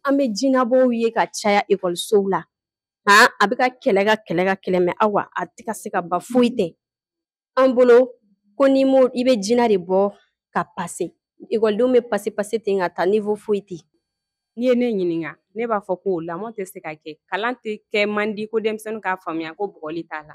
an bɛ jinabɔw ye ka caya ekɔlisow la han a bɛ ka kɛlɛ ka kɛlɛ ka kɛlɛ mɛ awa a tɛ ka se ka ban foyi tɛ an bolo ko n'i m'o i bɛ jina de bɔ ka pase ekɔlidenw bɛ pase pase ten ka taa nivo foyi tɛ n'i ye ne ɲininka ne b'a fɔ ko lamɔ tɛ se ka kɛ kalan tɛ kɛ man di ko denmisɛnninw k'a faamuya ko bugɔli t'a la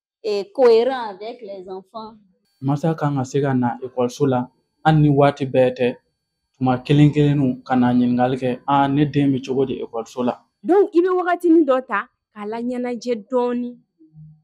eh, cohérent avec les enfants. Masa kan ka se ka na ekɔliso la hali ni waati bɛɛ tɛ tuma kelen kelen u ka na ɲininkali kɛ a ne den bɛ cogo di ekɔliso la. donc i bɛ wagatinin dɔ ta k'a laɲɛnajɛ dɔɔni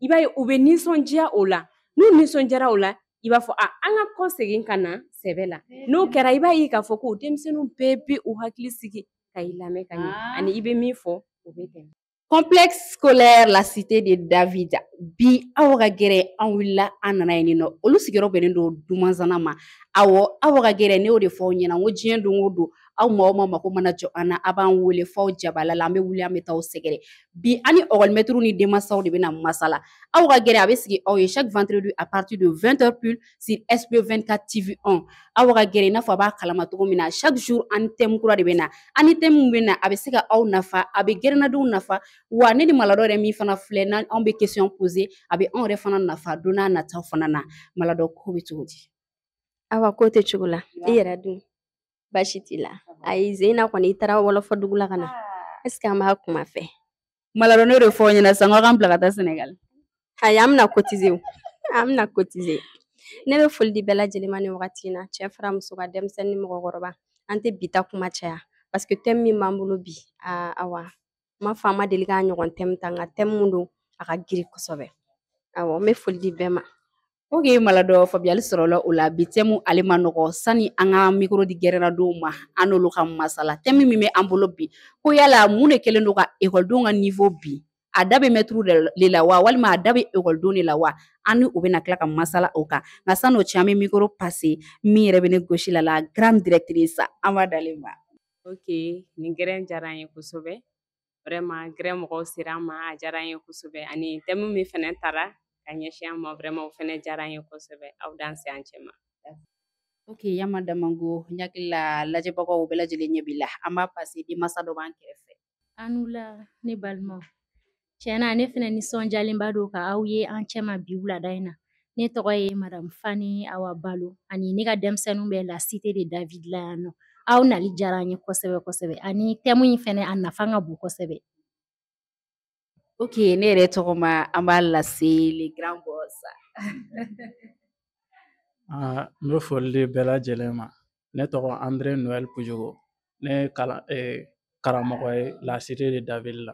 i b'a ye u bɛ nisɔndiya o la n'u nisɔndiyara o la i b'a fɔ a an ka kɔsegin ka na sɛbɛ la n'o kɛra i b'a ye k'a fɔ ko denmisɛnninw bɛɛ bɛ u hakili sigi ka i lamɛn ka ɲɛ ani i bɛ min fɔ o bɛ tɛmɛ. Complexe scolaire la cité de David bi aw ka gɛrɛn an wulila an nana yen nɔ olu sigiyɔrɔ bɛnnen don dumanzana ma awɔ aw ka gɛrɛn ne y'o de fɔ aw ɲɛna n ko diɲɛ don o don aw maa o maa mako mana jɔ an na a b'an wele f'aw jabala la an bɛ wuli an bɛ taa aw sɛgɛrɛ bi an ni ekɔlimɛtiriw ni denmansaw de bɛna masala aw ka gɛrɛn a bɛ sigi aw ye chaque vendredi à partir de 20 heures pile sur SB24 TV 1 aw ka gɛrɛn i n'a fɔ a b'a kalama cogo min na chaque jour an ni thème kura de bɛ na an ni thème min bɛ na a bɛ se ka aw nafa a bɛ gɛrɛnnadenw nafa wa ne ni maladɔ yɛrɛ min fana filɛ n'an anw bɛ question poser a bɛ anw yɛrɛ fana nafa don nataw fana na maladɔ ko bɛ cogo di awa ko tɛ cogo la i yɛrɛ dun baasi t'i la ayi zeyina kɔni i taara wɔlɔfɔ dugu la ka na ɛseke an b'a kuma fɛ maladɔ ne de fɔ ɲɛna sisan k'an bila ka taa sɛnɛgali ayi an bɛna kotize an bɛna kotize ne bɛ foli di bɛɛ lajɛlen ma nin wagati in na cɛ fara muso kan denmisɛnnin ni mɔgɔkɔrɔba an tɛ bi ta kuma caya paseke tɛmu min b'an bolo bi aa awa n m'a fɔ an ma deli k'a ɲɔgɔn tɛmu ta nka tɛmu min don a ka girin kosɛbɛ awɔ n bɛ foli di bɛɛ ma Ok maladɔ faamuyali sɔrɔla o la bi tɛmu ale man nɔgɔ sani an ka mikoro di gɛrɛnnadenw ma an n'olu ka masala tɛmu min bɛ an bolo bi ko yala mun de kɛlen don ka ekɔlidenw ka nivo bin a da bɛ mɛtiriw de la wa walima a da bɛ ekɔlidenw de la wa an ni u bɛna tila ka masala o kan nka san'o cɛ an bɛ mikoro pase min yɛrɛ bɛ ne gosi la la grande directrice an b'a d'ale ma ok nin gɛrɛn diyara an ye kosɛbɛ vraiment gɛrɛn mɔgɔw sera an ma a diyara an ye kosɛbɛ ani tɛmu min fɛnɛ tara ka ɲɛsin an ma vraiment o fɛnɛ diyara an ye kosɛbɛ aw danse an cɛma ok yama damango n hakili la lajɛbagaw bɛɛ lajɛlen ɲɛ b'i la an b'a pase denmasa dɔ b'an kɛrɛfɛ an la ne balimaw tiɲɛ na ne fɛnɛ nisɔnjalenba don ka aw ye an cɛma bi wulada in na ne tɔgɔ ye madamu fani awa balo ani ne ka denmisɛnninw bɛ la cité de david la yan nɔ aw nali diyara an ye kosɛbɛ kosɛbɛ ani thème in fɛnɛ a nafa ka bon kosɛbɛ ok ne yɛrɛ tɔgɔma an b'a lase le grand boss ah, n bɛ foli di bɛɛ lajɛlen ma ne tɔgɔ andré noël pujugo ne ye karamɔgɔ ye la cité de david la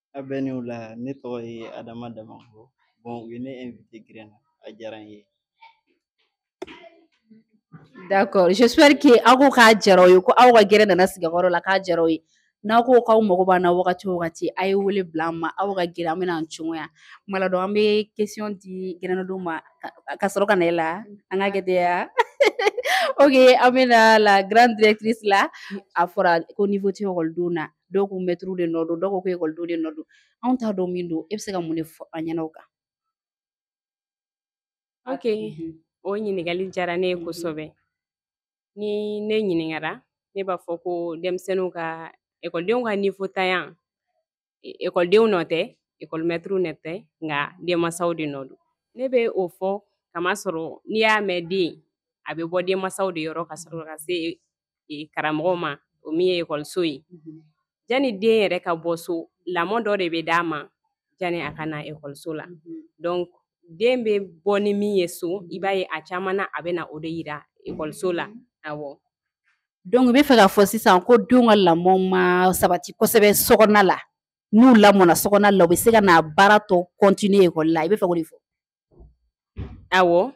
A bɛɛ ni wula ne tɔgɔ ye Adama Damango bon u ye ne invité gɛrɛn na a diyara n ye. D'accord j'espère que aw ko k'a diyara aw ye ko aw ka gɛrɛn nana sigi aw ka yɔrɔ la k'a diyara aw ye n'aw ko k'aw mago b'an na wagati o wagati a ye wele bila an ma aw ka gɛrɛn an bɛna an cogoya Maladɔ an bɛ question di gɛrɛnnadenw ma ka- ka sɔrɔ ka na e la an k'a kɛ ten ya ok an bɛna la grande directrice la a fɔra ko niveau tɛ ekɔlidenw na dɔw ko mɛtiriw de nɔ don dɔw ko ko ekɔlidenw de nɔ don anw t'a dɔn min don e bɛ se ka mun de fɔ an ɲɛna o kan ok mhm. o ɲininkali diyara ne ye mhm. kosɛbɛ ni ne ɲininkara ne b'a fɔ ko denmisɛnninw ka ekɔlidenw ka niveau ntanya e, ekɔlidenw nɔ tɛ ekɔlimɛtiriw nɔ tɛ nka denmansaw de nɔ don ne bɛ o fɔ kamasɔrɔ n'i y'a mɛn den a bɛ bɔ denmansaw de yɔrɔ ka sɔrɔ ka se karamɔgɔw ma o min ye ekɔliso ye jani den yɛrɛ ka bɔ so lamɔ dɔ de bɛ d'a ma jani a ka na ekɔliso la donc den bɛ bɔ ni min ye so i b'a ye a caman na a bɛ na o de yira ekɔliso la awɔ donc i bɛ fɛ k'a fɔ sisan ko denw ka lamɔ ma sabati kosɛbɛ so kɔnɔna la n'u lamɔna so kɔnɔna la u bɛ se ka n'a baara tɔ continuer ekɔli la i bɛ fɛ k'o de fɔ awɔ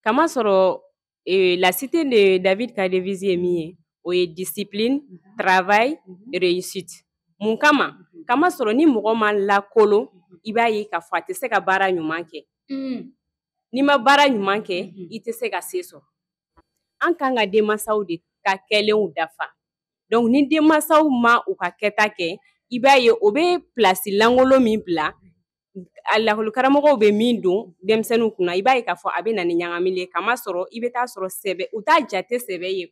kamasɔrɔ eh, la cité de David ka devise ye min ye o ye discipline mhm. travail mhm. réussite mun kama mhm. kamasɔrɔ ni mɔgɔ ma lakolon i b'a ye k'a fɔ a tɛ se ka baara ɲuman kɛ mm. n'i ma baara ɲuman kɛ i tɛ se ka se sɔrɔ an kan ka denmansaw de ka kɛlenw dafa donc ni denmansaw ma u ka kɛta kɛ i b'a ye o bɛ pilasi lankolon min bila a lakɔlikaramɔgɔw bɛ min don denmisɛnninw kunna i b'a ye k'a fɔ a bɛ na ni ɲagamili ye kamasɔrɔ i bɛ taa sɔrɔ sɛbɛ u t'a jate sɛbɛ ye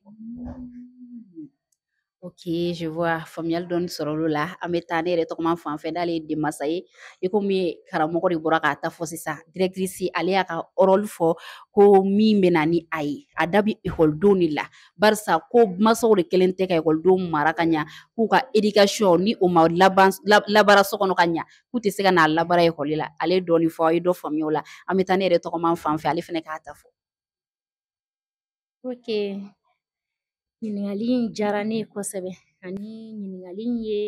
ok je vois faamuyali dɔɔni sɔrɔla o la an bɛ taa ne yɛrɛ tɔgɔma fan fɛ n'ale ye denmansa ye i komi karamɔgɔ de bɔra k'a ta fɔ sisan directrice ale y'a ka rôle fɔ ko min bɛ na ni a ye a da bɛ ekɔlidenw de la barisa ko mansaw de kelen tɛ ka ekɔlidenw mara ka ɲa k'u ka éducation ni o ma laban labaara so kɔnɔ ka ɲa k'u tɛ se ka n'a labaara ekɔli la ale ye dɔɔnin fɔ an ye dɔ faamuya o la an bɛ taa ne yɛrɛ tɔgɔman fan fɛ ale fana k'a ta fɔ ok ɲininkali in diyara ne ye kosɛbɛ ani ɲininkali in ye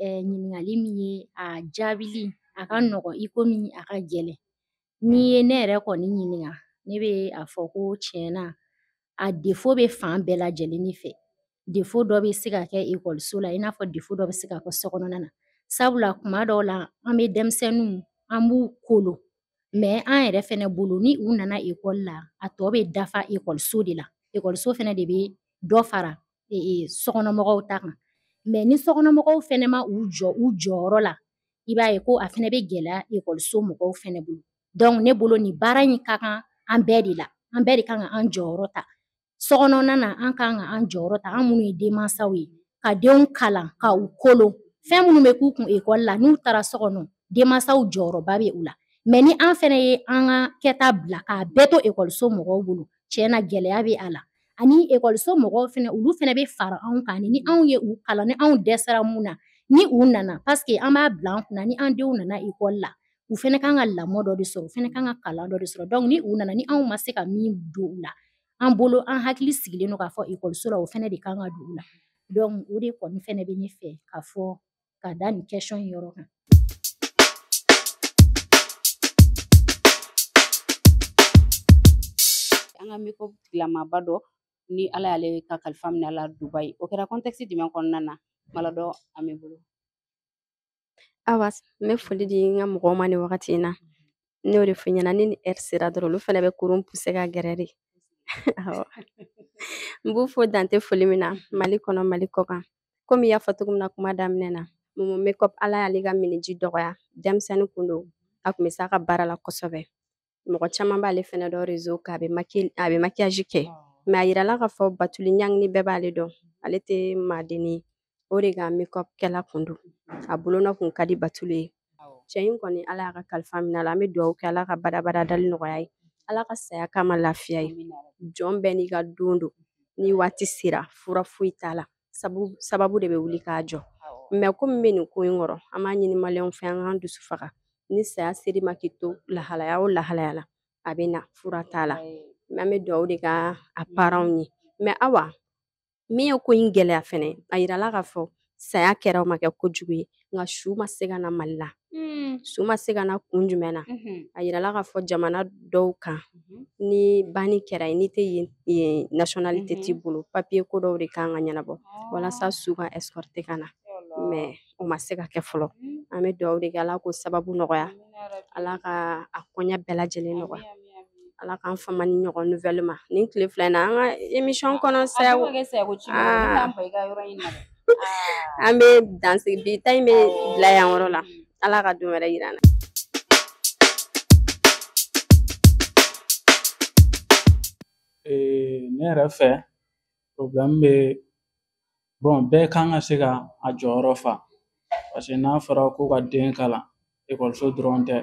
eh, ɲininkali min ye a jaabili a ka nɔgɔn i komi a ka gɛlɛn n'i ye ne yɛrɛ kɔni ɲininka ne bɛ a fɔ ko tiɲɛ na a defo bɛ fan bɛɛ lajɛlen de fɛ defo dɔ bɛ se ka kɛ ekɔliso la i n'a fɔ defo dɔ bɛ se ka kɛ so kɔnɔna na sabula kuma dɔw la an bɛ denmisɛnninw an b'u kolo mɛ an yɛrɛ fɛnɛ bolo ni u nana ekɔli la a tɔ bɛ dafa ekɔliso de la ekɔliso fɛnɛ de bɛ dɔ fara e, e, sokɔnɔmɔgɔw ta kan mɛ ni sokɔnɔmɔgɔw fɛnɛ ma u jɔ u jɔyɔrɔ la i b'a ye ko a fɛnɛ bɛ gɛlɛya ekɔliso mɔgɔw fɛnɛ bolo dɔnku ne bolo nin baara in ka kan an bɛɛ de la an bɛɛ de kan ka an jɔyɔrɔ ta sokɔnɔna na an kan ka an jɔyɔrɔ ta an minnu ye denmansaw ye ka denw kalan ka u kolon fɛn minnu bɛ k'u kun ekɔli la n'u taara so kɔnɔ denmansaw jɔyɔrɔba bɛ u la mɛ ni an fɛnɛ ye an ka kɛta bila k'a bɛɛ to ekɔliso mɔgɔw bolo tiɲɛ na gɛlɛya bɛ a la ani ekɔliso mɔgɔw fɛnɛ olu fɛnɛ bɛ fara anw kan ni anw ye u kalan ni anw dɛsɛra mun na ni u nana paseke an b'a bila an kunna ni an denw nana ekɔli la u fɛnɛ kan ka lamɔ dɔ de sɔrɔ u fɛnɛ kan ka kalan dɔ de sɔrɔ dɔnku ni u nana ni anw ma se ka min don u la an bolo an hakili sigilen don k'a fɔ ekɔliso la o fɛnɛ de kan ka don u la dɔnku o de kɔni fɛnɛ bɛ ne fɛ ka fɔ ka da nin kɛsɔn in yɔrɔ kan an ka makeup tigilamaba dɔ ni ala y'ale ka kalifa minɛ a la dubayi o kɛra kɔntɛkisi jumɛn kɔnɔna na maladɔ an b'i bolo awa n bɛ foli di n ka mɔgɔw ma nin wagati in na ne y'o de fɔ i ɲɛna ni ni ɛri sera dɔrɔn olu fɛnɛ bɛ kurun puse ka gɛrɛ de n b'u fo dante foli min na mali kɔnɔ mali kɔkan komi i y'a fɔ cogo min na kuma daminɛ na momo makeup ala y'ale ka miniji dɔgɔya denmisɛnnin kun don a kun bɛ s'a ka baara la kosɛbɛ mɔgɔ caman b'ale fɛnɛ dɔn rezo kan a bɛ makiyaji kɛ mɛ a yirala k'a fɔ batuli ɲani bɛɛ b'ale dɔn ale tɛ maadenni ye o de ka makeup kɛla kun don a bolonɔ kun ka di batuli ye cɛ in kɔni ala y'a ka kalifa minɛ a la an bɛ dugawu kɛ ala ka badabada dali nɔgɔya ye ala ka saya k'a ma lafiya ye jɔn bɛɛ n'i ka don don ni waati sera fura foyi t'a la sababu de bɛ wuli k'a jɔ mɛ ko min bɛ nin ko in kɔrɔ an b'a ɲini maliyɛnw fɛ an k'an dusu faga ni saya ser'i ma k'i to lahalaya o lahalaya la a bɛ na fura t'a la mɛ an bɛ dugawu de k'a paranw ye mɛ awa min ye ko in gɛlɛya fɛnɛ a yirala k'a fɔ saya kɛra o ma kɛ kojugu ye nka su ma se ka na mali la hmm. su ma se ka na kun jumɛn na mhm. a yirala k'a fɔ jamana dɔw kan mhm. ni banni kɛra yen n'i tɛ yen nationalité t'i mhm. bolo papiye ko dɔw de kan ka ɲɛnabɔ ah. walasa su ka escorter ka na mais o ma se ka kɛ fɔlɔ an bɛ dugawu de kɛ ala k'o sababu nɔgɔya ala ka a koɲɛ bɛɛ lajɛlen nɔgɔya ala k'an fama ni ɲɔgɔn nouvelle ma nin tile fila in na an ka émission kɔnɔ sayago an bɛ dansigi bi ta in bɛ bila yan yɔrɔ la ala ka don wɛrɛ yira an na ne yɛrɛ fɛ problème bɛ bɛɛ kan ka se ka a jɔyɔrɔ fa paseke n'a fɔra ko ka den kalan ekɔliso dɔrɔn tɛ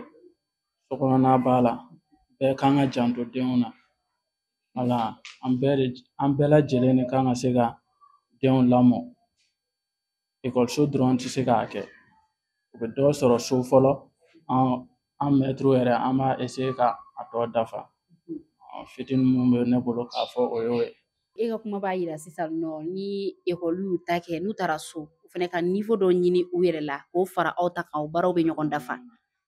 sokɔnɔna b'a la bɛɛ kan ka janto denw na wala an bɛɛ de an bɛɛ lajɛlen de kan ka se ka denw lamɔ ekɔliso dɔrɔn tɛ se k'a kɛ u bɛ dɔ sɔrɔ so fɔlɔ an mɛtiriw yɛrɛ an b'a eseye ka a tɔ dafa fitinin min bɛ ne bolo k'a fɔ o y'o ye e ka kuma b'a yira sisan nɔ ni ekɔli y'u ta kɛ n'u taara so u fana ka nivo dɔ ɲini u yɛrɛ la k'o fara aw ta kan o baaraw bɛ ɲɔgɔn dafa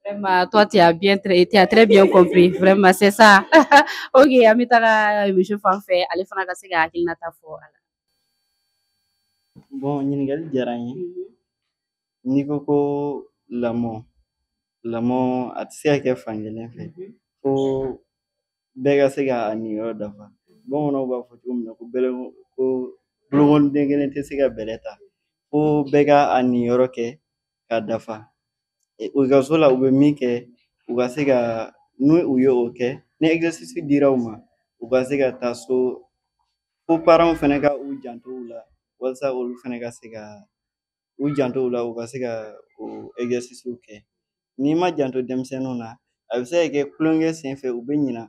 Vraiment, toi, tu as bien, tra- tu as très bien compris. Vraiment, c'est ça. ok, an bɛ taga monsieur fan fɛ ale fana ka se k'a hakilinata fɔ a la. Bon, ɲininkali diyara n ye. N'i ko ko lamɔ, lamɔ a tɛ se ka kɛ fankelen fɛ. Fo bɛɛ ka se ka a niyɔrɔ dafa. Bamananw b'a fɔ cogo min na ko bɛlɛ ko bolokɔniden kelen tɛ se ka bɛlɛ ta. Fo bɛɛ ka a niyɔrɔ kɛ ka dafa ekɔliso la u bɛ min kɛ u ka se ka n'u u ye o kɛ ni exercice dira u ma u ka se ka taa so fo paranw fana ka u janto u la walasa olu fana ka se ka u janto u la u ka se ka o exercice kɛ n'i ma janto denmisɛnninw na a bɛ se ka kɛ tulonkɛ sen fɛ u bɛ ɲina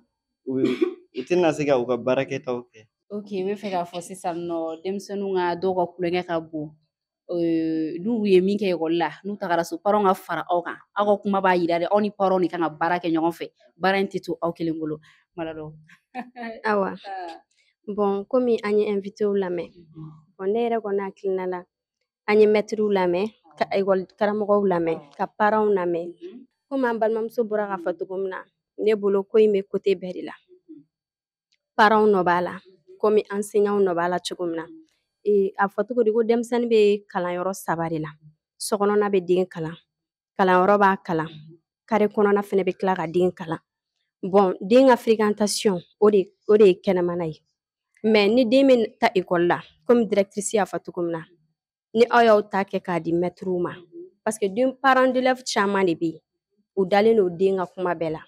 u bɛ u tɛna se ka u ka baarakɛtaw kɛ ok i bɛ fɛ k'a fɔ sisan nɔ denmisɛnninw ka dɔw ka tulonkɛ ka bon n'u ye min kɛ ekɔli la n'u tagara so paranw ka fara aw kan aw ka kuma b'a yira de aw ni paranw de kan ka baara kɛ ɲɔgɔn fɛ baara in tɛ to aw kelen bolo malado awa bɔn komi an ye ɛnvitew lamɛn bɔn ne yɛrɛ kɔni hakilina la an ye mɛtiriw lamɛn ka ekɔli karamɔgɔw lamɛn ka paranw lamɛn komi an balimamuso bɔra k'a fɔ cogo min na ne bolo ko in bɛ kote bɛɛ de la paranw nɔ b'a la komi ansɛɲanw nɔ b'a la cogo min na a fɔ cogo di ko denmisɛnnin bɛ kalan yɔrɔ saba de la sokɔnɔna bɛ den kalan kalanyɔrɔ b'a kalan kare kɔnɔna fana bɛ tila ka den kalan bɔn den ka firikantasiyɔn o de o de ye kɛnɛmana ye mɛ ni den bɛ taa ekɔli la komi dirɛkitirisi y'a fɔ cogo min na ni aw y'aw ta kɛ k'a di mɛtiriw ma parce que den parent d'élève caman de bɛ yen u dalen don den ka kuma bɛɛ la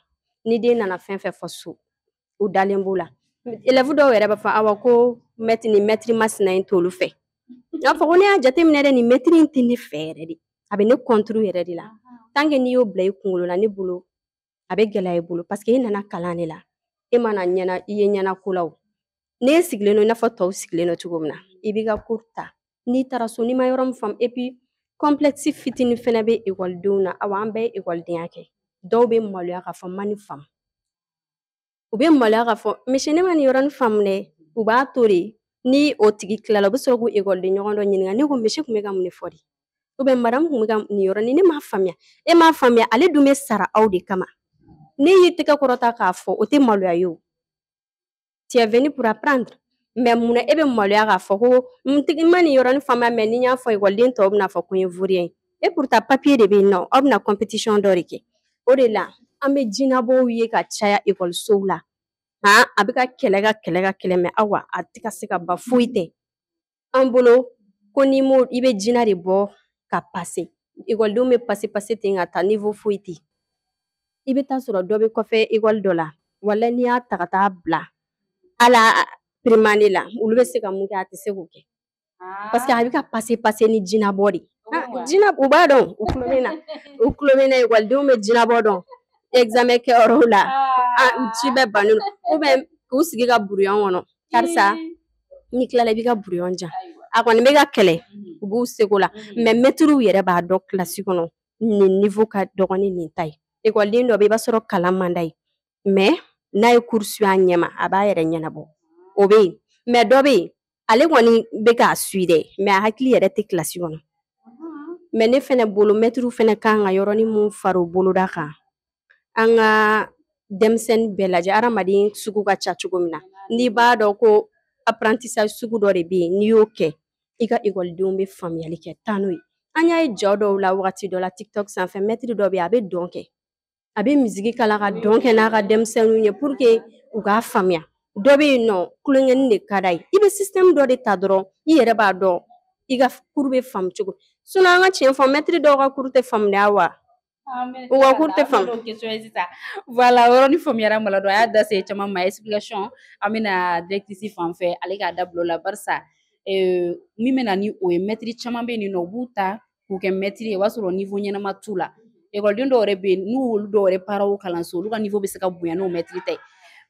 ni den nana fɛn fɛn fɔ so u dalen b'o la élève dɔw yɛrɛ b'a fɔ awa ko mɛtiri ni mɛtiri masina in t'olu fɛ n'a fɔ ko ne y'a jateminɛ dɛ nin mɛtiri in tɛ ne fɛ yɛrɛ de a bɛ ne contre yɛrɛ de la tant que n'i y'o bila i kunkolo la ne bolo a bɛ gɛlɛya i bolo paseke e nana kalan de la e ma na ɲɛna i ye ɲɛna ko la o n'e sigilen don i n'a fɔ tɔw sigilen don cogo min na i b'i ka kuru ta n'i taara so n'i ma yɔrɔ min faamu epi kɔnplɛkisi fitinin fɛnɛ bɛ ekɔlidenw na awa an bɛɛ ye ekɔlidenya kɛ dɔw bɛ maloya k'a fɔ n ma nin faamu u bɛ maloya k'a fɔ monsieur ne ma nin yɔrɔnin faamu dɛ u b'a to de ni o tigi tilala u bɛ sɔrɔ k'u ekɔliden ɲɔgɔn dɔ ɲininka ne ko monsieur kun bɛ ka mun de fɔ dɛ ou bien madamu kun bɛ ka nin yɔrɔnin ne m'a faamuya e m'a faamuya ale dun bɛ sara aw de kama n'i y'i tɛgɛ kɔrɔta k'a fɔ o tɛ maloya ye o tu es venu pour apprendre mɛ mun na e bɛ maloya k'a fɔ ko n ma nin yɔrɔnin faamuya mɛ ni n y'a fɔ ekɔliden tɔw bɛna fɔ ko n ye vaurien ye et pourtant papier de bɛ yen nɔ aw bɛna compétition dɔ de kɛ o de la an bɛ jinabɔw ye ka caya ekɔlisow la han a bɛ ka kɛlɛ ka kɛlɛ ka kɛlɛ mɛ awa a tɛ ka se ka ban foyi tɛ an bolo ko n'i m'o i bɛ jina de bɔ ka pase ekɔlidenw bɛ pase pase ten ka taa niveau foyi tɛ i bɛ taa sɔrɔ dɔ bɛ kɔfɛ ekɔli dɔ la wala n'i y'a ta ka taa bila ala primane la olu bɛ se ka mun kɛ a tɛ se k'o kɛ Ah. Parce que a bɛ ka pase pase ni jinabɔ de ye. Ah, jina u b'a dɔn u tulo bɛ n na u tulo bɛ n na ekɔlidenw bɛ jinabɔ dɔn examen kɛyɔrɔw la ah. ah, ci bɛɛ bannen don ou bien k'u sigi ka buruyɔn kɔnɔ karisa n'i tilala i b'i ka buruyɔn di yan a kɔni bɛ ka kɛlɛ mhm. u b'u seko la mhm. mɛ mɛtiriw yɛrɛ b'a dɔn kilasi kɔnɔ nin nivo ka dɔgɔn ni nin ta ye ekɔliden dɔ bɛ i b'a sɔrɔ kalan man d'a ye mɛ n'a ye kuru suivre a ɲɛma a b'a yɛrɛ ɲɛnabɔ o bɛ yen mɛ dɔ bɛ yen ale kɔni bɛ k'a suivre dɛ mɛ a hakili yɛrɛ tɛ kilasi kɔnɔ mɛ ne fana bolo mɛtiriw fana kan ka yɔrɔnin min fara u boloda kan an ka denmisɛnnin bɛɛ lajɛ adamaden sugu ka ca cogo min na n'i b'a dɔn ko apprentissage sugu dɔ de bɛ yen n'i y'o kɛ i ka ekɔlidenw bɛ faamuyali kɛ taa n'o ye an y'a ye yɔrɔ dɔw la wagati dɔ la tiktok sanfɛ mɛtiri dɔ bɛ yen a bɛ dɔn kɛ a bɛ miziki k'a la ka dɔn kɛ n'a ka denmisɛnninw ye pour que u k'a faamuya dɔ bɛ yen nɔ tulonkɛnin de ka d'a ye i bɛ système dɔ de ta dɔrɔn i yɛrɛ b'a dɔn i ka kuru bɛ faamu cogo min an ka tiɲɛ fɔ mɛtiri dɔw ka kuru tɛ faamuya wa u ka kuru tɛ faamu voilà o yɔrɔnin faamuyara Malado a y'a da se caman ma explication an bɛna directrice fan fɛ ale k'a da bila o la barisa min bɛ na ni o ye mɛtiri caman bɛ yen nɔ u b'u ta k'u kɛ mɛtiri ye o b'a sɔrɔ niwo ɲɛnama t'u la ekɔliden dɔw yɛrɛ bɛ yen nɔ olu dɔw yɛrɛ paranw kalan so olu ka niwo bɛ se ka bonya n'o mɛtiri ta ye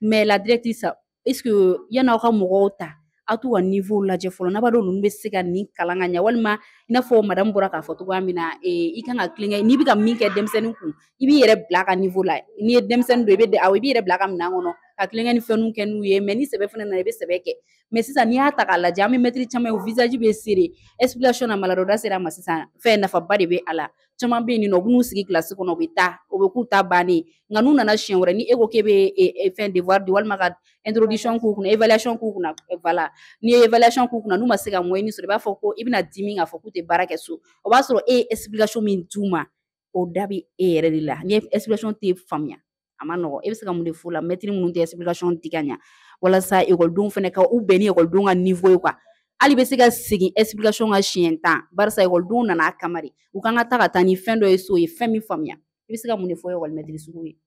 mɛ la directrice est-ce que yanni aw ka mɔgɔw ta aw t'u ka niwo lajɛ fɔlɔ n'a b'a dɔn ninnu bɛ se ka nin kalan ka ɲɛ walima i n'a fɔ madamu bɔra k'a fɔ cogoya min na i kan ka tulonkɛ n'i bɛ ka min kɛ denmisɛnnin kun i b'i yɛrɛ bila a ka niwo la n'i ye denmisɛnnin don i bɛ aw i b'i yɛrɛ bila a ka minɛn kɔnɔ ka tulonkɛ ni fɛnw kɛ n'u ye mɛ ni sɛbɛ fana nana i bɛ sɛbɛ kɛ mɛ sisan n'i y'a ta k'a lajɛ an bɛ mɛtiri caman ye u visage bɛ serré explication na malado da sera a ma sisan fɛn nafaba de bɛ a la caman bɛ yen nɔ u b'u sigi kilasi kɔnɔ u bɛ taa o bɛ k'u ta bannen nka n'u nana siɲɛ wɛrɛ ni e ko k'e bɛ fɛn devoir di walima ka introduction k'u kunna évaluation k'u kunna voilà n'i ye évaluation k'u kunna n'u ma se ka moyenne sɔrɔ i b'a fɔ ko i bɛna dimi k'a fɔ k'u tɛ baara kɛ so o b'a sɔrɔ e ye explication min d'u ma o da bɛ e yɛrɛ de la ni explication tɛ faamuya a ma nɔgɔ e bɛ se ka mun de f'o la mɛtiri minnu tɛ explication di ka ɲɛ walasa ekɔlidenw fana ka u bɛn ni ekɔlidenw ka niwo ye kuwa hali i bɛ se ka segin explication kan siɲɛ tan barisa ekɔlidenw nana a kama de u kan ka taa ka taa ni fɛn dɔ ye so u ye fɛn min faamuya i bɛ se ka mun de fɔ ekɔlimɛtiri sugu ye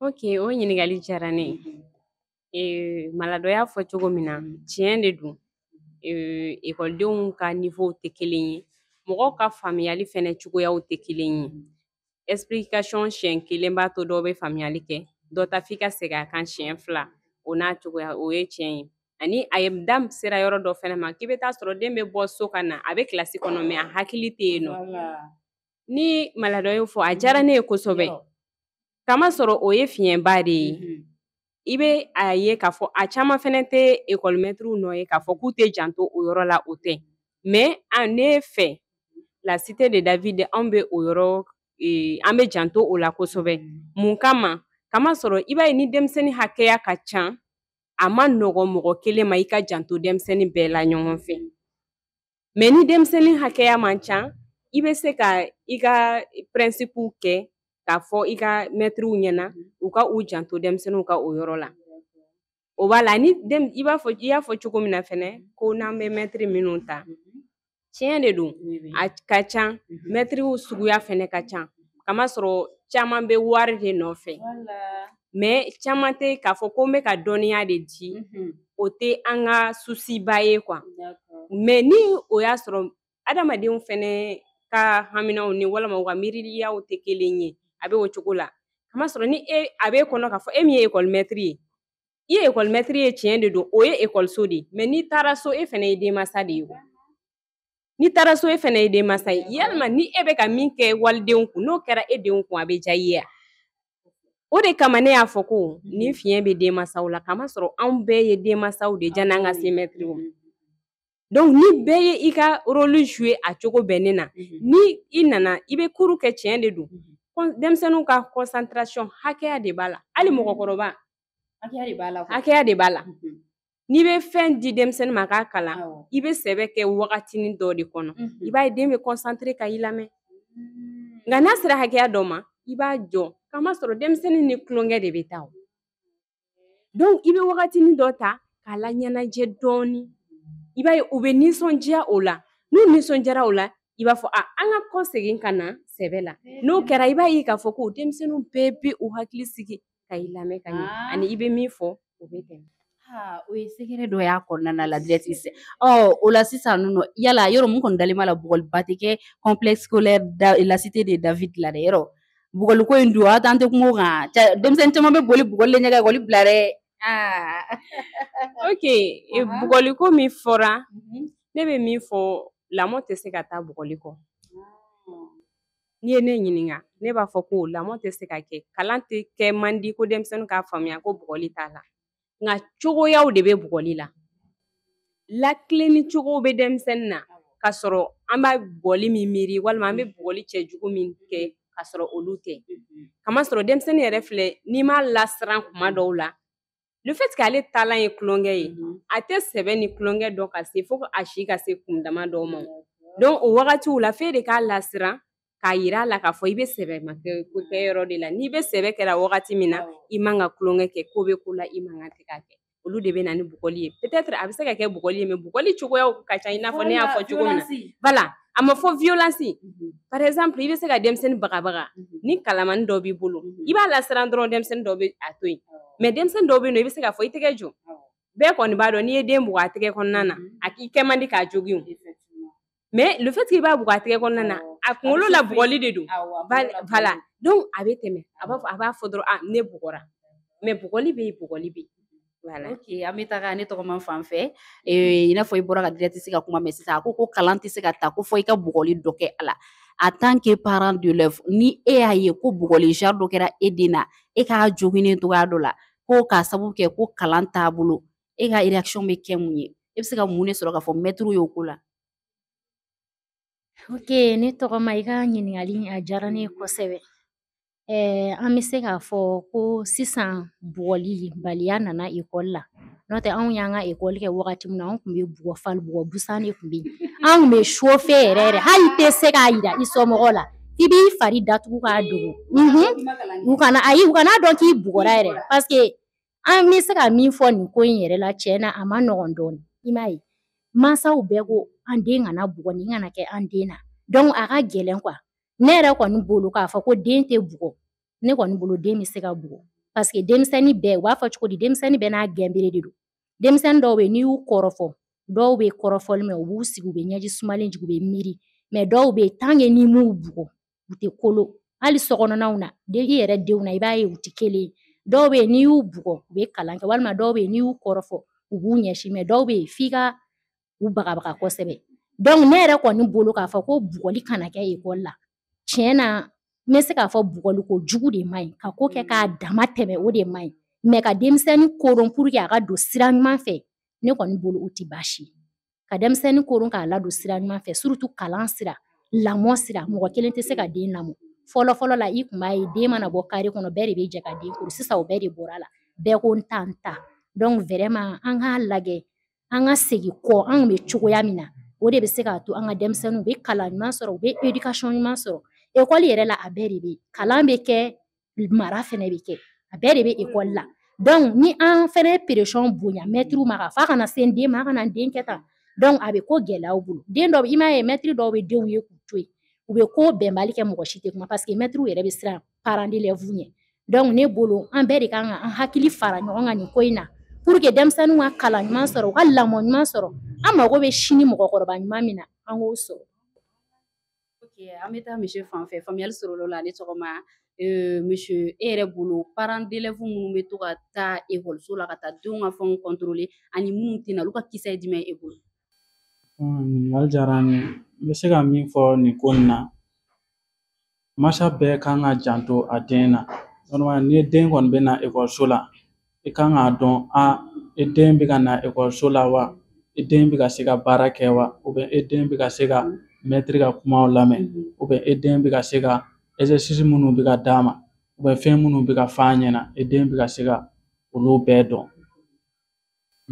ok o ɲininkali diyara ne ye malado y'a fɔ cogo min na tiɲɛ de don ekɔlidenw ka niwow tɛ kelen ye mɔgɔw ka faamuyali fɛnɛ cogoyaw tɛ kelen ye explication siɲɛ kelen b'a to dɔw bɛ faamuyali kɛ dɔ ta f'i ka segin a kan siɲɛ fila o n'a cogoya o ye tiɲɛ ye ani a ye da sera yɔrɔ dɔ fɛnɛ ma k'i bɛ taa sɔrɔ den bɛ bɔ so ka na a bɛ kilasi kɔnɔ mɛ a hakili tɛ yen nɔ ni malado y'o fɔ a diyara ne ye kosɛbɛ kamasɔrɔ o ye fiɲɛba de ye mm-hmm. i bɛ a ye k'a fɔ a caman fɛnɛ tɛ ekɔlimɛtiriw nɔ ye k'a fɔ k'u tɛ janto o yɔrɔ la o tɛ mɛ a ne fɛ la cité de david anw bɛ o yɔrɔ e, an bɛ janto o la kosɛbɛ mm-hmm. mun kama kamasɔrɔ i b'a ye ni denmisɛnnin hakɛya ka ca a ma nɔgɔ mɔgɔ kelen ma i ka janto denmisɛnnin bɛɛ la ɲɔgɔn fɛ mɛ ni denmisɛnnin hakɛya man ca i bɛ se ka i ka pɛrɛnsipu kɛ k'a fɔ i ka mɛtiriw ɲɛna u ka u janto denmisɛnninw ka o yɔrɔ la o b'a la ni i b'a fɔ i y'a fɔ cogo min na fɛnɛ ko n'an bɛ mɛtiri minnu ta tiɲɛ de don a ka ca mɛtiriw suguya fɛnɛ ka ca kamasɔrɔ caman bɛ wari de nɔfɛ mɛ caman tɛ k'a fɔ ko n bɛ ka dɔnniya de di o tɛ an ka susiba ye kuwa mɛ ni o y'a sɔrɔ adamadenw fɛnɛ ka haminaw ni walima u ka miiriyaw tɛ kelen ye a bɛ o cogo la kamasɔrɔ ni e, a b'e kɔnɔ k'a fɔ e min ye ekɔlimɛtiri ye i ye ekɔlimɛtiri ye tiɲɛ de don o ye ekɔliso de ye mɛ n'i taara so e fɛnɛ ye denmansa de ye n'i taara so e fɛnɛ ye denmansa ye yalima ni e bɛ ka min kɛ walidenw kun n'o kɛra e denw kun a bɛ diya i ye o de kama ne y'a fɔ ko nin fiɲɛ bɛ denmansaw la kamasɔrɔ anw bɛɛ ye denmansaw de janni an ka se mɛtiriw ma donc ni bɛɛ ye i ka rôle jouer a cogo bɛnnen na mhm. ni i nana i bɛ cours kɛ tiɲɛ de don mhm. denmisɛnninw ka concentration hakɛya de b'a la hali mɔgɔkɔrɔba hakɛya de b'a la N'i bɛ fɛn di denmisɛnnin ma k'a kalan i bɛ sɛbɛ kɛ wagatinin dɔ de kɔnɔ i b'a ye den bɛ concentrer ka i lamɛn mm. nka n'a sera hakɛya dɔ ma i b'a jɔ kamasɔrɔ denmisɛnnin ni tulonkɛ de bɛ taa o donc i bɛ wagatinin dɔ ta k'a laɲɛnajɛ dɔɔni i b'a ye u bɛ nisɔndiya o la n'u nisɔndiyara o la i b'a fɔ a an ka kɔsegin ka na sɛbɛ la n'o kɛra i b'a ye k'a fɔ ko denmisɛnninw bɛɛ bɛ u hakili sigi ka i lamɛn ka ɲɛ ah. ani i bɛ min fɔ o bɛ tɛmɛ ah, o ye secret dɔ y'a kɔnɔna la directrice o la sisan nɔ yala yɔrɔ mun kɔni dalen b'a la bugɔliba tɛ kɛ complexe scolaire la cité de David la dɛ yɔrɔ bugɔliko in dun a t'an tɛ kuma o kan denmisɛnnin caman bɛ boli bugɔli le ɲɛ ka ekɔli bila dɛ ah. ok e, bugɔliko min fɔra mhm. ne bɛ min fɔ lamɔ tɛ se ka taa bugɔli kɔ n'i ye ne ɲininka ne b'a fɔ ko lamɔ tɛ se ka kɛ kalan tɛ kɛ man di ko denmisɛnnin k'a faamuya ko bugɔli t'a la nka cogoyaw de bɛ bugɔli la latilenni cogow bɛ denmisɛnnin na ka sɔrɔ an bɛ bugɔli min miiri walima an bɛ bugɔli cɛjugu min kɛ ka sɔrɔ olu tɛ kamasɔrɔ denmisɛnnin yɛrɛ filɛ n'i m'a lasiran kuma dɔw la le fait que ale taalan ye tulonkɛ ye mhm. a tɛ sɛbɛ ni tulonkɛ dɔn ka se fo a si ka se kun dama dɔw ma donc o wagatiw la f'e de k'a lasiran k'a yira a la k'a fɔ i bɛ sɛbɛma kɛ yɔrɔ de la n'i bɛ sɛbɛ kɛra wagati min na i man ka tulonkɛ kɛ ko bɛ ko la i man ka tɛ k'a kɛ olu de bɛ na ni bugɔli ye peut-être a bɛ se ka kɛ bugɔli ye mais bugɔli cogoyaw ka ca i n'a fɔ ne y'a fɔ cogo min na voilà a ma fɔ violence mhm. par exemple i bɛ se ka denmisɛnnin bagabaga mhm. ni kalamani dɔ b'i bolo mhm. i b'a lasiran dɔrɔn denmisɛnnin dɔ bɛ a to yen mais denmisɛnnin dɔw bɛ yen nɔ i bɛ se k'a fɔ i tɛgɛ jɔ bɛɛ kɔni b'a dɔn n'i ye den bugɔ a tɛgɛ kɔnɔna na a k'i kɛ man di k'a jogin mais le fait que i b'a bugɔ a tɛgɛ kɔnɔna na a kunkolo la bugɔli de don voilà donc a bɛ tɛmɛ a b'a fɔ dɔrɔn ah ne bugɔra mais bugɔli bɛ yen bugɔli bɛ yen Voilà. Ok, an bɛ taga ne tɔgɔma fan fɛ ee, i n'a fɔ i bɔra ka directrice ka kuma mɛn sisan a ko ko kalan tɛ se ka taa ko fo i ka bugɔli dɔ kɛ a la en tant que parent d'élève ni e y'a ye ko bugɔli genre dɔ kɛra e den na e k'a joginnen cogoya dɔ la ko k'a sababu kɛ ko kalan t'a bolo e ka réaction bɛ kɛ mun ye e bɛ se ka mun de sɔrɔ k'a fɔ mɛtiri y'o ko la Ok, ne tɔgɔma i ka ɲininkali in a diyara ne ye kosɛbɛ. Ɛɛ an bɛ se k'a fɔ ko sisan bugɔli baliya nana ekɔli la n'o tɛ anw y'an ka ekɔli kɛ wagati min na anw tun bɛ bugɔ fali bugɔ busan de tun bɛ yen an tun bɛ chauffer yɛrɛ yɛrɛ hali i tɛ se k'a yira i somɔgɔw la i b'i fari datugu k'a dogo u kana ayi u kana a dɔn k'i bugɔra yɛrɛ pa An bɛ se ka min fɔ nin ko in yɛrɛ la tiɲɛ na a man nɔgɔn dɔɔnin i m'a ye mansaw bɛɛ ko an den kana bugɔ nin kana kɛ an den na donc a ka gɛlɛn quoi ne yɛrɛ kɔni bolo k'a fɔ ko den tɛ bugɔ ne kɔni bolo den bɛ se ka bugɔ parce que denmisɛnnin bɛɛ u b'a fɔ cogo di denmisɛnnin bɛɛ n'a gɛnbere de don denmisɛnnin dɔw bɛ yen n'i y'u kɔrɔfɔ dɔw bɛ kɔrɔfɔli mɛn u b'u sigi u bɛ ɲɛji sumalen jigin u bɛ miiri mais dɔw bɛ yen tant que n'i m'u bugɔ u tɛ kolo hali sokɔnɔnaw na i yɛrɛ denw na i b'a ye u tɛ kelen ye dɔw bɛ yen n'i y'u bugɔ u bɛ kalan kɛ walima dɔw bɛ yen n'i y'u kɔrɔfɔ u b'u ɲɛsin mais dɔw bɛ yen f'i ka u bagabaga kosɛbɛ donc ne yɛrɛ kɔni bolo k'a fɔ ko bugɔli kana kɛ ekɔli la tiɲɛ na n bɛ se k'a fɔ bugɔli kojugu de man ɲi ka ko kɛ k'a dama tɛmɛ o de man ɲi mais ka denmisɛnnin koron pour que a ka don sira ɲuman fɛ ne kɔni bolo o tɛ baasi ye ka denmisɛnnin koron k'a ladon sira ɲuman fɛ surtout kalan sira lamɔ sira mɔgɔ kelen tɛ se ka den lamɔ fɔlɔ fɔlɔ la i kun b'a ye den mana bɔ kare kɔnɔ bɛɛ de bɛ jɛ ka den koro sisan o bɛɛ de bɔra a la bɛɛ ko n ta n ta donc vraiment an k'a lajɛ an ka segin kɔ anw bɛ cogoya min na o de bɛ se k'a to an ka denmisɛnninw bɛ kalan ɲuman sɔrɔ u bɛ éducation ɲuman sɔrɔ ekɔli yɛrɛ la a bɛɛ de bɛ kalan bɛ kɛ mara fɛnɛ bɛ kɛ a bɛɛ de bɛ ekɔli la donc ni an fɛnɛ ye pression bonya mɛtiriw ma k'a fɔ a kana se n den ma a kana n den kɛ tan donc a bɛ ko gɛlɛya u bolo den dɔw i m'a ye mɛtiri dɔw bɛ denw ye k'u to yen u bɛ ko bɛnbali kɛ mɔgɔ si tɛ kuma parce que mɛtiriw yɛrɛ bɛ siran parents d'élèves ɲɛ donc ne bolo an bɛɛ de kan ka an hakili fara ɲɔgɔn kan nin ko in na pour que denmisɛnninw ka kalan ɲuman sɔrɔ u ka lamɔ ɲuman sɔrɔ an mago bɛ sini mɔgɔkɔrɔba ɲuman min na an k'o sɔrɔ an bɛ taa monsieur fan fɛ faamuyali sɔrɔla o la ne tɔgɔma monsieur e yɛrɛ bolo parents d'élèves minnu bɛ to ka taa ekɔliso la ka taa denw ka fɛnw contrôler ani minnu tɛ na olu ka kisɛ ye jumɛn ye e bolo ɲininkali diyara n ye n bɛ se ka min fɔ nin ko in na masa bɛɛ kan ka janto a den na normalement ni den kɔni bɛ na ekɔliso la i kan k'a dɔn a e den bɛ ka na ekɔliso la wa e den bɛ ka se ka baara kɛ wa ou bien e den bɛ ka se ka mɛtiri ka kumaw lamɛn ou bien e den bɛ ka se ka exercice minnu bɛ ka d'a ma fɛn minnu bɛ ka f'a ɲɛna e den bɛ ka se ka olu bɛɛ dɔn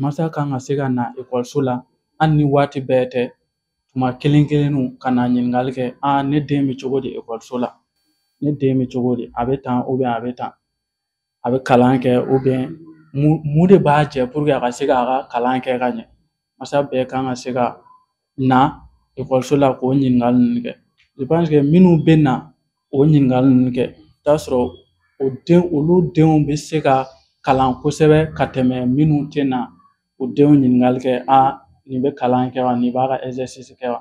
masa kan ka se ka na ekɔliso la hali ni waati bɛɛ tɛ tuma kelen kelenninw ka na ɲininkali kɛ a ne den bɛ cogo di ekɔliso la ne den bɛ cogo di a bɛ tan a bɛ tan a bɛ kalan kɛ ou bien mun de b'a jɛ pour que a ka se k'a ka kalan kɛ ka ɲɛ masa bɛɛ kan ka se ka na ekɔliso la k'o ɲininkali ninnu kɛ je pense que minnu bɛ na o ɲininkali ninnu kɛ i bɛ t'a sɔrɔ o den olu denw bɛ se ka kalan kosɛbɛ ka tɛmɛ minnu tɛ na u denw ɲininkali kɛ a nin bɛ kalan kɛ wa nin b'a ka exercice kɛ wa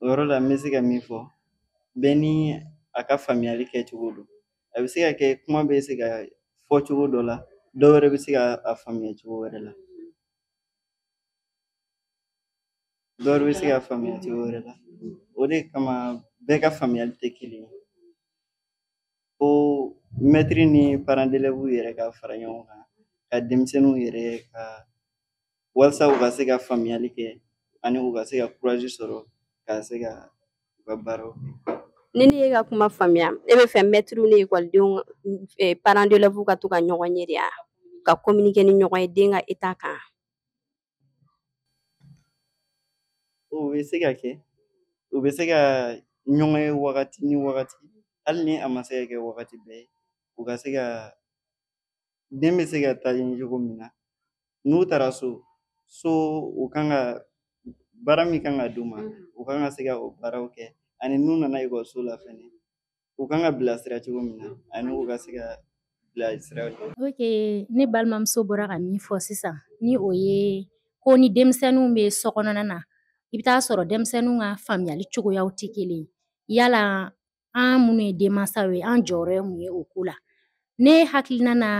o yɔrɔ la n bɛ se ka min fɔ bɛɛ ni a ka faamuyali kɛcogo don a bɛ se ka kɛ kuma bɛ se ka fɔ cogo dɔ la dɔ wɛrɛ bɛ se ka a faamuya cogo wɛrɛ la dɔ wɛrɛ bɛ se ka faamuya cogo wɛrɛ la o de kama bɛɛ ka faamuyali tɛ kelen ye ko mɛtiri ni parents d'élèves yɛrɛ ka fara ɲɔgɔn kan ka denmisɛnninw yɛrɛ ka walasa u ka se ka faamuyali kɛ ani u ka se ka kurazi sɔrɔ ka se ka u ka baaraw kɛ ni ne y'i ka kuma faamuya e bɛ fɛ mɛtiriw ni ekɔlidenw eh, parents d'élèves ka to ka ɲɔgɔn ye de ya ka communiquer ni ɲɔgɔn ye den ka état kan o bɛ se ka kɛ u bɛ se ka ɲɔgɔn ye wagati ni wagati hali ni a ma se ka kɛ wagati bɛɛ ye u ka se ka den bɛ se ka taa ɲɛ cogo min na n'u taara so so u kan ka baara min kan ka d'u ma u kan ka se ka o baaraw kɛ ani n'u nana ekɔliso la fɛnɛ u kan ka bilasira cogo min na ani u ka se ka bilasira ok ne balimamuso bɔra ka min fɔ sisan ni o ye ko ni denmisɛnninw bɛ so kɔnɔna na i bɛ t'a sɔrɔ denmisɛnninw ka faamuyali cogoyaw tɛ kelen yala an minnu ye denmansaw ye an jɔyɔrɔ ye mun ye o ko la ne hakilina na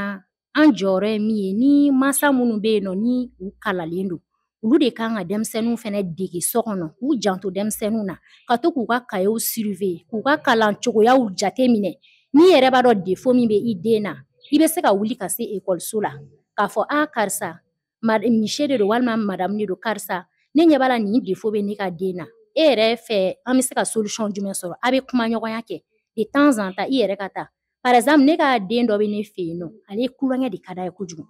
an jɔyɔrɔ ye min ye ni mansa minnu bɛ yen nɔ ni u kalalen don olu de kan ka denmisɛnninw fɛnɛ dege so kɔnɔ k'u janto denmisɛnninw na ka to k'u ka kayew surveiller k'u ka kalan cogoyaw jate minɛ n'i yɛrɛ b'a dɔn défaut min bɛ i den na i bɛ se ka wuli ka se ekɔliso la k'a fɔ a karisa mise de don walima madamu de don karisa ne ɲɛ b'a la nin défaut bɛ ne ka den na e yɛrɛ fɛ an bɛ se ka solution jumɛn sɔrɔ a bɛ kumaɲɔgɔnya kɛ de temps en temps i yɛrɛ ka taa par exemple ne ka den dɔ bɛ ne fɛ yen nɔ ale kulonkɛ de ka d'a ye kojugu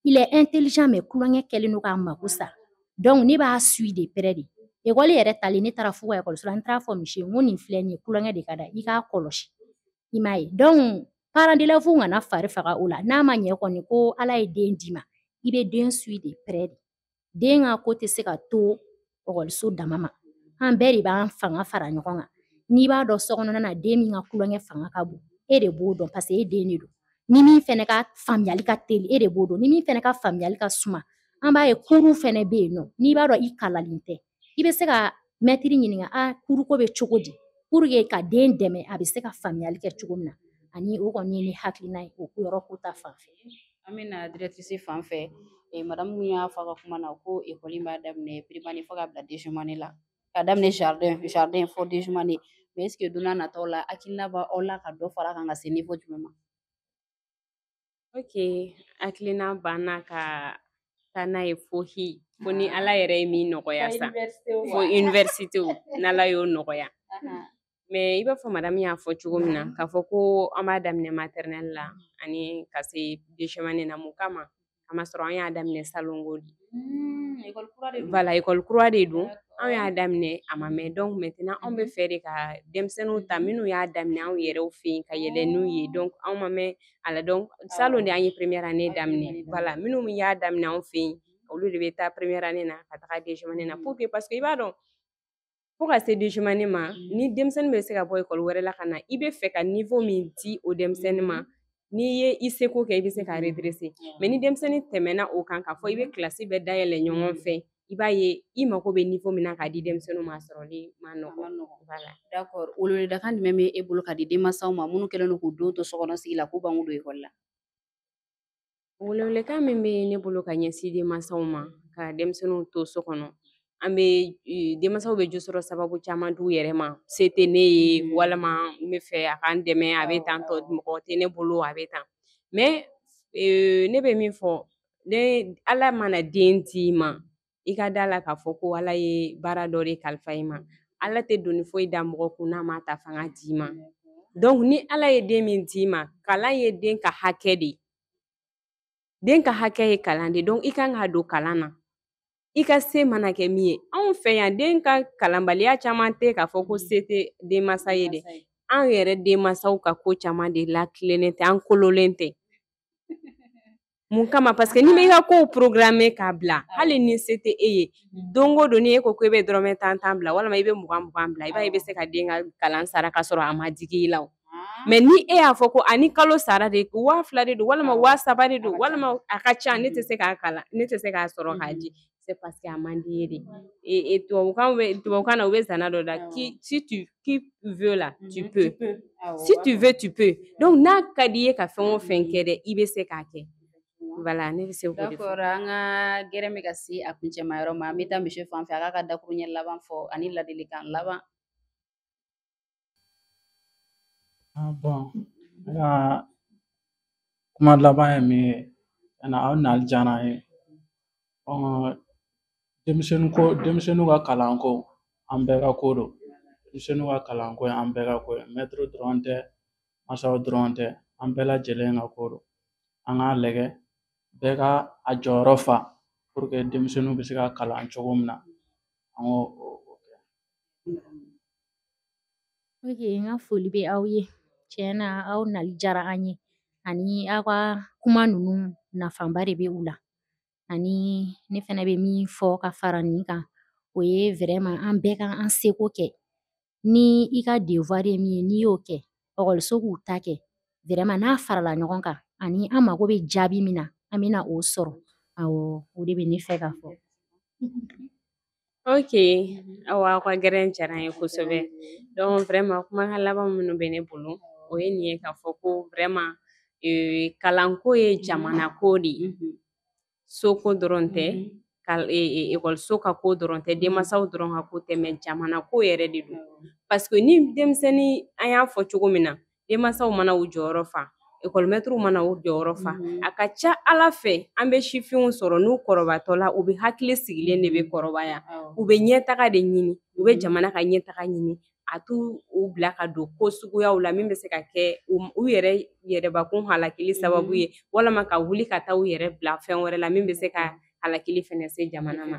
il est intelligent mais kulonkɛ kɛlen don k'a mako sa donc ne b'a suit de près de ekɔli yɛrɛ talen ne taara f'u ka ekɔliso la n taara fɔ mise ye n ko nin filɛ nin ye kulonkɛ de ka d'a ye i k'a kɔlɔsi i m'a ye donc parents d'élèves kana fari faga o la n'a ma ɲɛ kɔni ko ala ye den d'i ma i bɛ den suit de près de den ka ko tɛ se ka to ekɔliso dama ma an bɛɛ de b'an fanga fara ɲɔgɔn kan n'i b'a dɔn sokɔnɔna na den min ka kulonkɛ fanga ka bon e de b'o dɔn parce que e den de don ni min fɛnɛ ka faamuyali ka teli e de b'o dɔn ni min fɛnɛ ka faamuyali ka suma an b'a ye cours fɛnɛ bɛ yen nɔ n'i b'a dɔn i kalalen tɛ i bɛ se ka mɛtiri ɲininka a cours ko bɛ cogo di pour que ka den dɛmɛ a bɛ se ka faamuyali kɛ cogo min na ani o kɔni ye ne hakilina ye o yɔrɔ ko ta fan fɛ an bɛna directrice fan fɛ eh, madamu min y'a fɔ a ka kuma na ko ekɔli b'a daminɛ primaire fo ka bila deuxième année la ka daminɛ jardin jardin fo deuxième année mais est ce que don nataw la hakilina b'aw la ka dɔ fara kan ka se niveau jumɛn ma Ok, hakilina b'an na ka taa n'a ye fo hi fo ni ala yɛrɛ ye min nɔgɔya sa fo université n'ala y'o nɔgɔya mais i b'a fɔ madamu y'a fɔ cogo min na k'a fɔ ko an b'a daminɛ maternelle la ani ka se deuxième année na mun kama k'a masɔrɔ an y'a daminɛ salongo de voilà école kura de don anw y'a daminɛ a ma mɛn donc maintenant anw bɛ fɛ de ka denmisɛnninw ta minnu y'a daminɛ anw yɛrɛw fɛ yen ka yɛlɛ n'u ye donc anw ma mɛn a la donc salon de an ye première année daminɛ voilà minnu y'a daminɛ anw fɛ yen olu de bɛ taa première année na ka taga deuxième année na pour que parce que i b'a dɔn fo ka se deuxième année ma ni denmisɛnnin bɛ se ka bɔ ekɔli wɛrɛ la ka na i bɛ fɛ ka niveau min di o denmisɛnnin ma n'i ye i seko kɛ i bɛ se ka redresser mais ni denmisɛnnin tɛmɛna o kan k'a fɔ i bɛ kilasi bɛɛ dayɛlɛ ɲɔgɔn fɛ i b'a ye i mako bɛ niveau min na k'a di denmisɛnninw ma sɔrɔli man nɔgɔ d'accord welewelekan jumɛn bɛ e bolo ka di denmansaw ma minnu kɛlen don k'u den to sokɔnɔ sigi la k'u ban k'u don ekɔli la welewelekan min bɛ ne bolo ka ɲɛsin denmansaw ma ka denmisɛnninw to so kɔnɔ an bɛ e, denmansaw bɛ jo sɔrɔ sababu caman d'u yɛrɛ ma se tɛ ne ye mm. walima n bɛ fɛ a k'an dɛmɛ a bɛ tan tɔ mɔgɔ tɛ ne bolo a bɛ tan mais e, ne bɛ min fɔ den ala mana den d'i ma i ka da a la k'a fɔ ko ala ye baara dɔ de kalifa i ma ala tɛ doni foyi da mɔgɔ kun n'a m'a ta fanga d'i ma donc ni ala ye den min d'i ma kalan ye den ka hakɛ de ye den ka hakɛ ye kalan de donc i kan k'a don kalan na i ka se mana kɛ min ye anw fɛ yan den ka kalanbaliya caman tɛ k'a fɔ ko se tɛ denmansa ye dɛ an yɛrɛ denmansaw ka ko caman de latilennen tɛ an kololen tɛ mun kama parce que n'i bɛ i ka kow programmer k'a bila hali ni se tɛ e ye don o don ni e ko ko i bɛ dɔrɔmɛ tan tan bila walima i bɛ mugan mugan bila i b'a ye i bɛ se ka den ka kalan sara ka sɔrɔ a ma digi i la o mais ni e y'a fɔ ko ani kalo sara de waa fila de don walima waa saba de don walima a ka ca ne tɛ se k'a kalan ne tɛ se k'a sɔrɔ k'a di c'est parce que a man di i ye de et tubabukan bɛ tubabukan na u bɛ zana dɔ da si tu veux là tu peux si tu veux tu peux donc n'a ka di i ye ka fɛn o fɛn kɛ dɛ i bɛ se k'a kɛ voilà ne bɛ se k'o de fɔ d'accord an ka gɛrɛ bɛ ka se a kuncɛma yɔrɔ ma an bɛ taa monsieur fan fɛ a k'a ka dakuruɲɛ laban fɔ ani ladilikan laban Bon ne ka kuma laban ye min ye ani aw nali diyara an ye bon denmisɛnnin ko denmisɛnninw ka kalanko an bɛɛ ka ko don denmisɛnninw ka kalanko ye an bɛɛ ka ko ye mɛtiri dɔrɔn tɛ masaw dɔrɔn tɛ an bɛɛ lajɛlen ka ko don an k'a lajɛ bɛɛ ka a jɔyɔrɔ fa pour que denmisɛnninw bɛ se ka kalan cogo min na an k'o kɛ Ok, n ka foli bɛ aw ye tiɲɛ na aw nali diyara an ye ani aw ka kuma ninnu nafaba de bɛ u la ani ne fana bɛ min fɔ ka fara nin kan o ye vraiment an bɛɛ ka an seko kɛ ni i ka devoir ye min ye n'i y'o kɛ ekɔliso k'u ta kɛ vraiment n'a farala ɲɔgɔn kan ani an mago bɛ jaabi min na an bɛna o sɔrɔ awɔ o de bɛ ne fɛ ka fɔ. ok aw aw ka gɛrɛn diyara an ye kosɛbɛ donc vraiment kumakan laban minnu bɛ ne bolo o ye nin ye k'a fɔ ko vraiment euh, kalanko ye jamana ko de ye mhm. soko dɔrɔn tɛ ekɔliso mhm. e, e, ka ko dɔrɔn tɛ denmansaw dɔrɔn ka ko tɛ mais jamana ko yɛrɛ de don parce que ni denmisɛnnin an y'a fɔ cogo min na denmansaw mana u jɔyɔrɔ fa ekɔlimɛtiriw mana u jɔyɔrɔ fa mhm. a ka ca ala fɛ an bɛ sifinw sɔrɔ n'u kɔrɔbatɔ la u bɛ hakili sigilen de bɛ mhm. kɔrɔbaya u bɛ ɲɛtaga de ɲini u bɛ mhm. jamana ka ɲɛtaga ɲini a t'u bila ka don ko suguyaw la min bɛ se ka kɛ u yɛrɛ yɛrɛbakun halakili sababu ye walama ka wuli ka taa u yɛrɛ bila fɛn wɛrɛ la min bɛ se ka halakili fɛnɛ se jamana ma.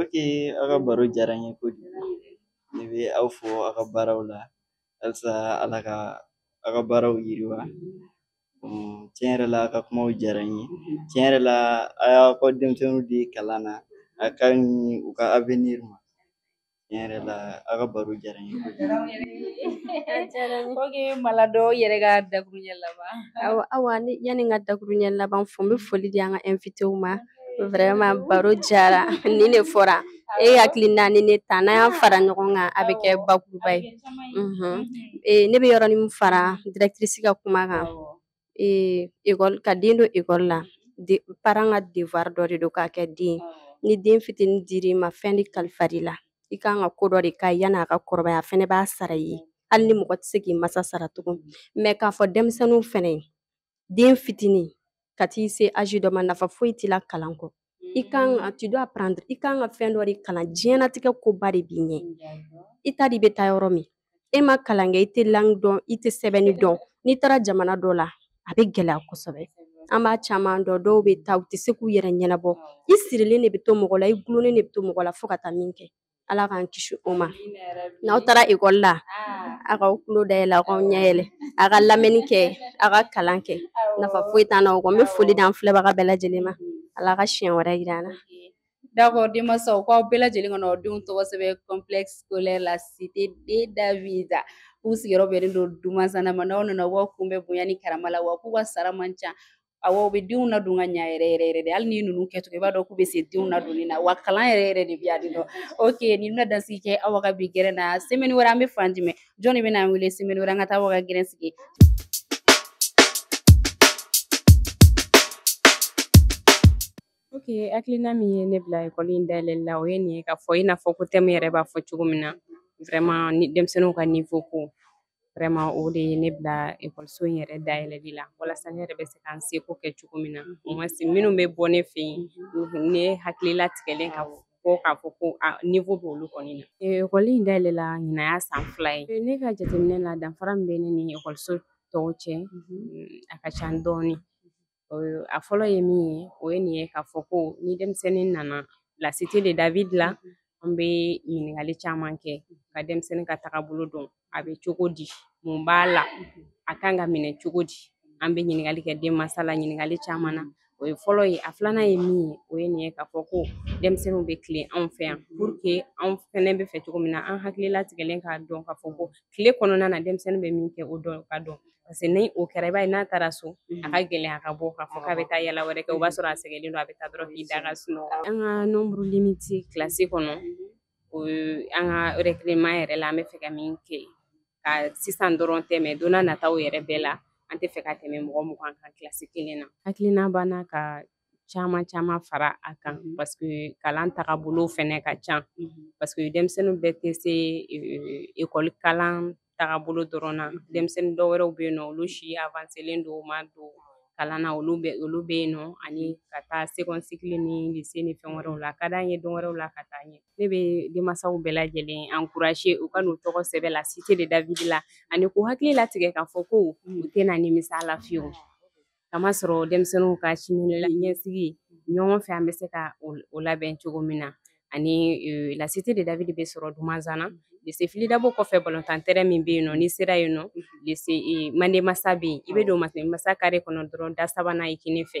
ok aw ka baro diyara n ye kojugu ne bɛ aw fo aw ka baaraw la halisa ala ka aw ka baaraw yiriwa Mm, tiɲɛ yɛrɛ la aw ka kumaw diyara n ye tiɲɛ yɛrɛ la a y'aw ka denmisɛnninw di kalan na a ka ɲi u ka avenir ma tiɲɛ yɛrɛ la aw ka baro diyara n ye kojugu Malado yɛrɛ ka dakuruɲɛ laban awa yanni n ka dakuruɲɛ laban fɔ n bɛ foli di an ka invitéw ma vraiment baro diyara nin de fɔra e hakilina ni ne ta n'an y'a fara ɲɔgɔn kan a bɛ kɛ bakuruba ye ne bɛ yɔrɔnin fara directrice ka kuma kan ekɔli ka den don ekɔli la parent ka devoir dɔ de don k'a kɛ den ni den fitinin dir'i ma fɛn de kalifar'i la i ka kan ka ko dɔ de k'a ye yann'a ka kɔrɔbaya a fana b'a sara i ye hali ni mɔgɔ tɛ se k'i masa sara tugun mais k'a fɔ denmisɛnninw fana den fitinin ka t'i se âge dɔ ma nafa foyi t'i la kalan kɔ i kan ka mm. tu dois apprendre i kan ka fɛn dɔ de kalan diɲɛnatigɛ koba de b'i ɲɛ i t'a dɔn i bɛ taa yɔrɔ min e ma kalan kɛ i tɛ langi dɔn i tɛ sɛbɛnni dɔn n'i taara jamana dɔ la a bɛ gɛlɛya kosɛbɛ an b'a caman dɔn dɔw bɛ taa u tɛ se k'u yɛrɛ ɲɛnabɔ i sirilen de bɛ to mɔgɔ la i gulonnen de bɛ to mɔgɔ la fo ka taa min kɛ ala k'an kisi o ma n'aw taara ekɔli la a k'aw tulo dayɛlɛ aw k'aw ɲɛ yɛlɛ a ka lamɛnni kɛ a ka kalan kɛ nafa foyi t'an na o kɔ n bɛ foli d'an filɛbaga bɛɛ lajɛlen ma ala ka siɲɛ wɛrɛ yira an na D'accord, denmansaw k'aw bɛɛ lajɛlen ka n'aw denw tɔgɔ sɛbɛn complexe scolaire la cité de David k'u sigiyɔrɔ bɛnnen don Dumansana ma n'aw nana u b'aw kunbɛn bonya ni karama la wa k'u ka sara man ca awɔ u bɛ denw ladon ka ɲa yɛrɛ yɛrɛ yɛrɛ de hali ni ninnu kɛcogo i b'a dɔn k'u bɛ se denw ladonni na wa kalan yɛrɛ yɛrɛ de bɛ yan nɔ ok nin bɛna dansigi kɛ aw ka bi gɛrɛ na semɛni wɛrɛ an bɛ fan jumɛn jɔn de bɛna an wele semɛni wɛrɛ an ka taa aw ka gɛrɛ sigi ok hakilina min ye ne bila ekɔli in dayɛlɛli la o ye nin ye k'a fɔ i n'a fɔ ko tɛmu yɛrɛ b'a fɔ cogo min na vraiment ni denmisɛnninw ka niveau ko vraiment o de ye ne bila ekɔliso in yɛrɛ dayɛlɛli la walasa ne yɛrɛ bɛ se ka n seko kɛ cogo min na au moins minnu bɛ bɔ ne fɛ yen ne hakili latigɛlen ka bɔ k'a fɔ ko niveau bɛ olu kɔni na ekɔli in dayɛlɛla ɲinan y'a san fila ye ne ka jateminɛ la danfara min bɛ ne ni ekɔliso tɔw cɛ a ka ca dɔɔnin a fɔlɔ ye min ye o ye nin ye k'a fɔ ko ni denmisɛnnin nana la cité de David la an bɛ ɲininkali caman kɛ ka denmisɛnnin ka tagabolo dɔn a bɛ cogo di mun b'a la a kan ka minɛ cogo di an bɛ ɲininkali kɛ denmansa la ɲininkali caman na o ye fɔlɔ ye a filanan ye min ye o ye nin ye k'a fɔ ko denmisɛnninw bɛ tilen anw fɛ yan pour que anw fɛnɛ bɛ fɛ cogo min na an hakili latigɛlen k'a dɔn k'a fɔ ko tile kɔnɔna na denmisɛnnin bɛ min kɛ o dɔn ka dɔn parce que ni o kɛra i b'a ye n'a taara so a ka gɛlɛn a ka bɔ k'a fɔ k'a bɛ taa yala wɛrɛ kɛ o b'a sɔrɔ a sɛgɛnlen don a bɛ taa dɔrɔn k'i da ka sunɔgɔ an ka nombre limité kilasi kɔnɔ o an ka recrutement yɛrɛ la an bɛ fɛ ka min kɛ ka sisan dɔrɔn tɛ mais don nataw yɛrɛ bɛɛ la an tɛ fɛ ka tɛmɛ mɔgɔ mugan kan kilasi kelen na hakilina b'an na ka caman caman fara a kan mm -hmm. parce que kalan tagabolo fɛnɛ ka ca mm -hmm. parce que denmisɛnninw bɛɛ tɛ se ekɔli kalan tagabolo dɔrɔn na denmisɛnnin dɔ wɛrɛw bɛ yen nɔ olu si avanselen don u ma don kalan na olu bɛ olu bɛ yen nɔ ani ka taa second cycle ni lycée ni fɛn wɛrɛw la a ka d'an ye don wɛrɛw la ka taa ɲɛ ne bɛ denmansaw bɛɛ lajɛlen encourager u ka n'u tɔgɔ sɛbɛn la cité de David la ani k'u hakili latigɛ k'a fɔ ko u tɛna nimisa a la fiyewu k'a masɔrɔ denmisɛnninw ka siniɲɛsigi ɲɔgɔn fɛ an bɛ se ka o labɛn cogo min na ani e, la cité de david bɛ sɔrɔ dumanzana lise fili dabo kɔfɛ balɔntantɛrɛn min bɛ yen nɔ n'i sera yen nɔ lise e, mande masa bɛ yen i bɛ don mande masa kare kɔnɔ dɔrɔn da sabanan i kinin fɛ